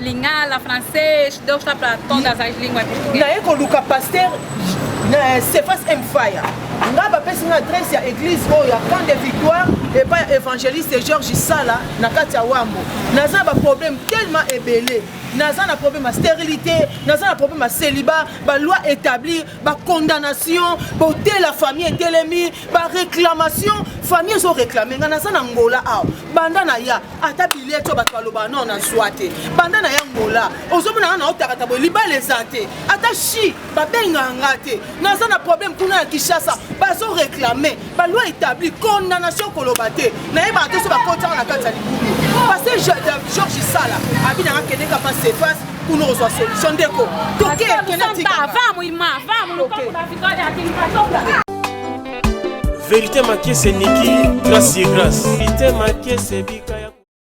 Lingala, français, d'autres platon dans une langue portugaise. Naye ko luka pasteur na Cephas M Fire. Nga ba pesi na adresse ya église oyo ya Camp de Victoire et pas évangéliste Georges Sala na kati ya Wambo. Naza ba problème tellement ebelé. Naza na problème ya stérilité, naza na problème ya célibat, ba loi établie, ba condamnation, beauté la famille etelemi, ba réclamation, famille zo réclamer nga naza na Angola awa. Banda na ya ata billet oyo bato balobaka nao nazwa te banda na ya ngola ozomona nga naotakata boye libala eza te ata chi babengaka nga te naza na problème kuna ya kinshasa bazo réclame baloi établi condamnation koloba te nayebaka te so bakotaka na kati ya libulu parce que george sala abi nanga kendeka pa sefas kuna ozwa solution ndeko toke kena tika Verite makese niki grace ye grace. Verite makese bika ya